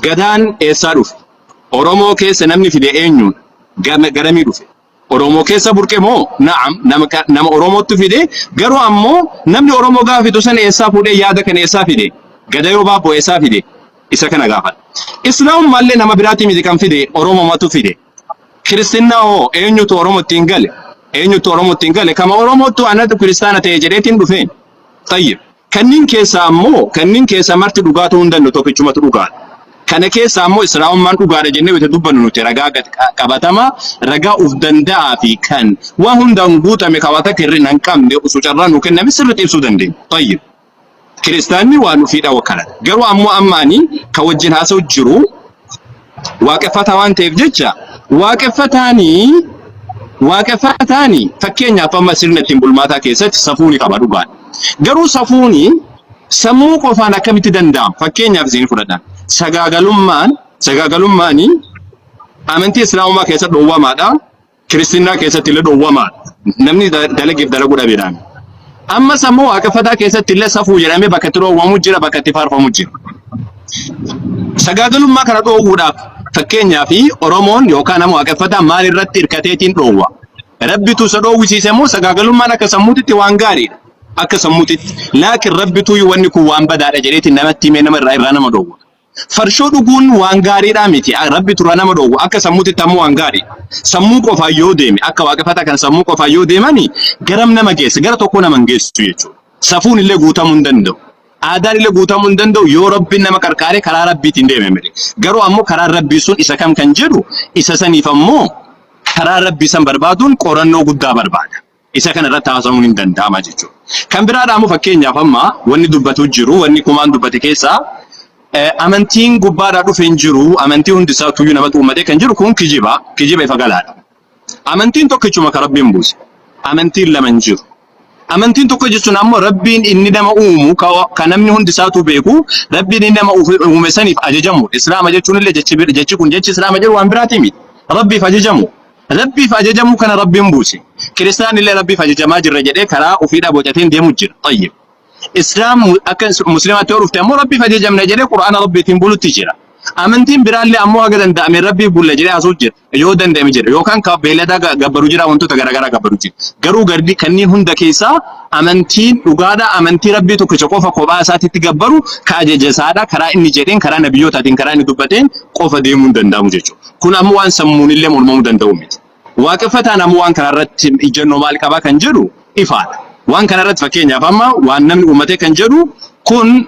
Gadaan eessaa dhufe? Oromoo keessa namni fide eenyuun? Gam- Garamii dhufe? Oromoo keessa burqe moo? Na'am, nama, ka- nama Oromootu fide. Garuu ammoo namni Oromoo gaafa fidu sana eessaa fuudhee yaada kana eessaa fide? Gada yoo baaboo eessaa fide? Isa kana gaafadha. Islaamummaallee nama biraatii miti kan fide Oromomatu fide. Kiristinnaa hoo eenyutu Oromoo ittiin gale? Eenyutu Oromoo ittiin gale? Kama Oromootu anatu kiristaana ta'e jedheetiin dhufe. Tayyib. Kanniin keessaa ammoo, kanniin keessaa marti dhugaa ta'uu hin danda'u, tokkichumatu dhugaadha. Kana keessaa ammoo Islaamummaan dhugaadha jennee wayita dubbannu nuti ragaa gad qabatamaa, ragaa of danda'aa fi kan waan hundaan guutame kan waa takka hir'ina hin qabne osoo carraa nuu kenname sirriitti ibsuu dandeenya. Tayyib. Kiristaanni waan ofii dhawa kana. Garuu ammoo amma ani kan wajjin haasa'u jiru waaqeffataa waan ta'eef jecha waaqeffataani waaqeffataani fakkeenyaaf amma sirna ittiin bulmaataa keessatti safuuni qaba dhugaan. Garuu safuuni sammuu qofaan akkamitti danda'ama? Fakkeenyaaf isin fudhadha. Sagaagalummaan sagaagalummaani amantii islaamumaa keessatti dhoowwamaadha. Kiristinnaa keessatti illee dhowwamaa namni da- dalageef dalaguu dhabeedhaan. Ammas ammoo waaqeffataa keessatti illee safuu jedhamee bakka itti dhowwamu jira bakka itti faarfamu jira. Sagaagalummaa kana dhoowwuudhaaf fakkeenyaaf Oromoon yookaan ammoo waaqeffataa maal irratti hirkateetiin dhoowwa. Rabbitu isa dhoowwisiise immoo sagaagalummaan akka sammuutitti waan gaariidha. Akka sammuutitti laakiin rabbitu wanni kun waan badaadha jedheetiin namatti himee nama irraa irraa nama dhoowwa. Farshoo dhuguun waan gaariidhaa miti. Rabbi turaa nama dhoogu akka sammuutitti ammoo waan gaarii. Sammuu qofaan yoo deeme akka waaqeffataa kan sammuu qofaan yoo deemani garam nama geessa gara tokko nama hin geessu jechuudha. Safuun illee guutamuu hin danda'u. Aadaan illee guutamuu hin danda'u yoo rabbiin nama qarqaaree karaa rabbiitiin deeme malee. Garuu ammoo karaan rabbii sun isa kam kan jedhu isa saniif ammoo karaa rabbii san barbaaduun qorannoo guddaa barbaada. Isa kana irratti haasa'uun hin danda'ama jechuudha. Kan biraa dhaamu fakkeenyaaf amma wanni dubbatu jiru wanni kumaan dubbate keessaa amantiin gubbaadhaa dhufe hin jiru amantii hundi isaa tuyyuu namatu uummatee kan jiru kun kijiba kijiba ifa galaadha. Amantiin tokkichuma kan rabbiin buuse amantiin lama hin jiru. Amantiin tokko jechuun ammoo rabbiin inni nama uumu kan namni hundi isaatu beeku rabbiin inni nama uume saniif ajajamu islaama jechuun illee jechi kun jechi islaama jedhu waan biraatii miti rabbiif ajajamu. Rabbiif ajajamuu kana Rabbiin buuse. Kiristaan illee Rabbiif ajajamaa jirra jedhee karaa ofiidhaa bocateen deemu jira. Tayyib. Islaam akka muslimaatti yoo dhufte ammoo Rabbiif ajajamna jedhee Qur'aana Rabbiitiin bulutti jira. Amantiin biraallee ammoo haga danda'ame Rabbiif bulla jedhee haasuu jira. Yoo danda'ame jira. Yookaan ka beeylada ga- gabbaru jira wantoota garaagaraa gabbaru jira. Garuu gardi kanneen hunda keessaa amantiin dhugaadha. Amantii Rabbii tokkicha qofa kophaa isaatitti gabbaru ka ajaja isaadha. Karaa inni jedheen, karaa nabiyyootaatiin, karaa inni dubbateen qofa deemuu hin danda'amu jechuudha. Kun ammoo waan sammuunillee mormamuu danda'u miti. Waaqeffataan ammoo waan kanarratti ijjannoo maal qaba kan jedhu ifaadha. Waan kanarratti fakkeenyaaf amma waan namni uummatee kan jedhu kun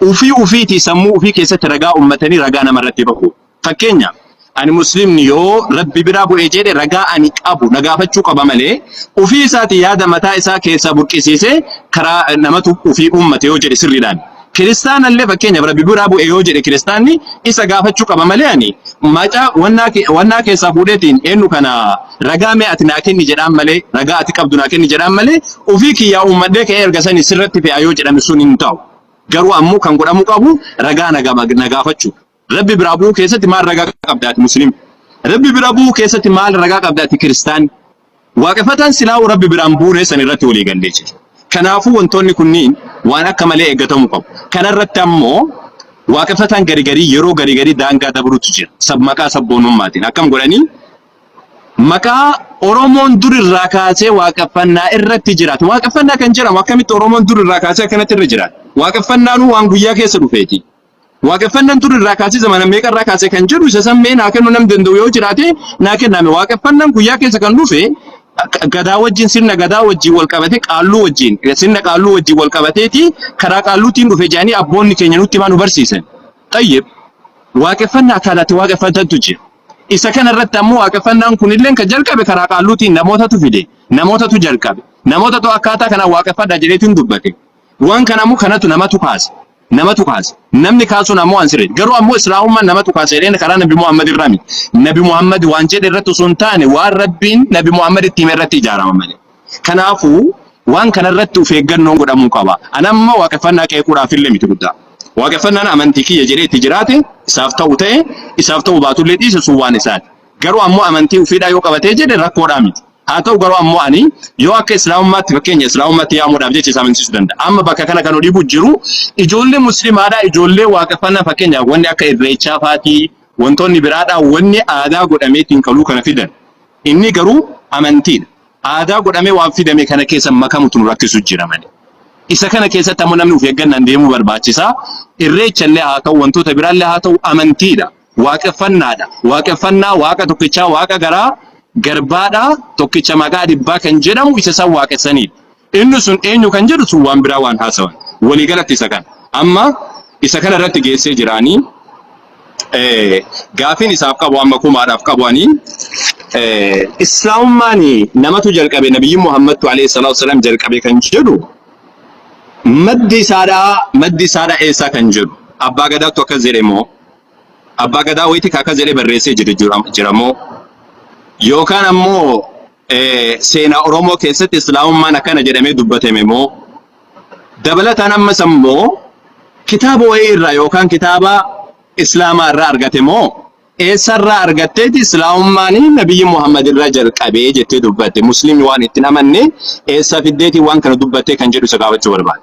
ufii ufiitii sammuu ufii keessatti ragaa uummatanii ragaa namarratti bahu. Fakkeenyaaf ani muslimni yoo rabbi biraa bu'ee jedhe ragaa ani qabu na gaafachuu qaba malee ufii isaati yaada mataa isaa keessaa burqisiisee karaa namatu ufii uummate yoo jedhe sirriidhaan. Kiristaanallee fakkeenyaaf rabbi biraa bu'e yoo jedhe kiristaanni isa gaafachuu qaba malee ani macaa wannaa ke- wannaa keessaa fuudheetiin eenyu kana ragaa mee ati naa kenni jedhaan malee ragaa ati qabdu naa kenni jedhaan malee ofii kiyyaa uummadhee ka'ee erga sani sirratti fe'aa yoo jedhame sun hin ta'u. Garuu ammoo kan godhamuu qabu ragaa na gama- na gaafachuu. Rabbi biraa bu'uu keessatti maal ragaa qabda ati musliim? Rabbi bira bu'uu keessatti maal ragaa qabda ati kiristaan? Waaqeffataan silaa'u rabbi biraan buunee san irratti walii gallee jira. Kanaafuu wantoonni kunniin waan akka malee eeggatamuu qabu. Kanarratti ammoo waaqeffataan gari garii yeroo gari garii daangaa dabrutu jira. Sab maqaa sabboonummaatiin akkam godhanii maqaa Oromoon dur irraa kaasee waaqeffannaa irratti jiraatu. Waaqeffannaa kan jedhamu akkamitti Oromoon dur irraa kaasee akkanatti irra jiraatu? Waaqeffannaanuu waan guyyaa keessa dhufeeti. Waaqeffannaan dur irraa kaasee zamana meeqa irraa kaasee kan jedhu isa san mee naa kennuu nam danda'u yoo jiraate naa kennaame. Waaqeffannaan guyyaa keessa kan dhufe akka gadaa wajjin sirna gadaa wajjin wal qabate qaalluu wajjin sirna qaalluu wajjin wal qabateeti karaa qaalluutiin dhufe jedhanii abboonni keenya nutti himaa nu barsiisan. Xayyib waaqeffannaa akkaataatti waaqeffatantu jira. Isa kana irratti ammoo waaqeffannaan kunillee kan jalqabe karaa qaalluutiin namootatu fide namootatu jalqabe namootatu akkaataa kanaan waaqeffadhaa jedheetiin dubbate. Waan kana ammoo kanatu namatu kaase. Namatu kaase. Namni kaasun ammoo an sirriidha. Garuu ammoo Islaamummaan namatu kaase jedheen karaa Nabi Muhammad irraa miti. Nabi Muhammad waan jedhe irratti osoo hin taane waan Rabbiin Nabi Muhammad itti hime irratti ijaarama malee. Kanaafuu waan kana irratti of eeggannoon godhamuu qaba. An amma waaqeffannaa qeequudhaaf illee miti guddaa. Waaqeffannaan amantii kiyya jedhee itti jiraate isaaf ta'u ta'e isaaf ta'u baatullee dhiise sun waan isaati. Garuu ammoo amantii ofiidhaa yoo qabatee jedhe rakkoodhaa miti. Haa ta'u garuu ammoo ani yoo akka islaamummaatti fakkeenya islaamummaatti yaamuudhaaf jecha isa amansiisuu danda'a. Amma bakka kana kan dhibu jiru ijoollee muslimaadhaa ijoollee waaqeffannaa fakkeenyaaf wanni akka irreechaa faatii wantoonni biraadhaa wanni aadaa godhameetiin kaluu kana fidan. Inni garuu amantiidha. Aadaa godhamee waan fidame kana keessa makamutu nu rakkisu jira malee. Isa kana keessatti ammoo namni of eeggannaan deemuu barbaachisa. Irreecha illee haa ta'u wantoota biraallee haa ta'u amantiidha. Waaqeffannaadha. Waaqeffannaa Waaqa tokkichaa Waaqa garaa garbaadhaa tokkicha maqaa dhibbaa kan jedhamu isa isaan waaqessaniidha. Inni sun eenyu kan jedhu sun waan biraa waan haasawan. Walii galatti isa kana. Amma isa kana irratti geessee jiraanii eh, gaafiin isaaf qabu amma kumaadhaaf qabu ani eh, islaamummaan namatu jalqabe nabiyyi Muhammadtu alayhi salaatu wasalaam jalqabe kan jedhu maddi isaadhaa maddi isaadhaa eessaa kan jedhu abbaa gadaattu akkas jedhe immoo Abbaa Gadaa wayitii ka akkas jedhee barreessee jiru jira- jira moo? Yookaan ammoo eh, seenaa Oromoo keessatti Islaamummaan akkana jedhamee dubbatame moo? Dabalataan ammas ammoo kitaaba wayii irraa yookaan kitaaba Islaamaa irraa argate moo? Eessarraa argatteeti Islaamummaan Nabiyyi Muhammad irraa jalqabee jettee dubbatte. Musliimni waan itti hin amanne eessaa fiddeetii waan kana dubbattee kan jedhu isa gaafachuu barbaada.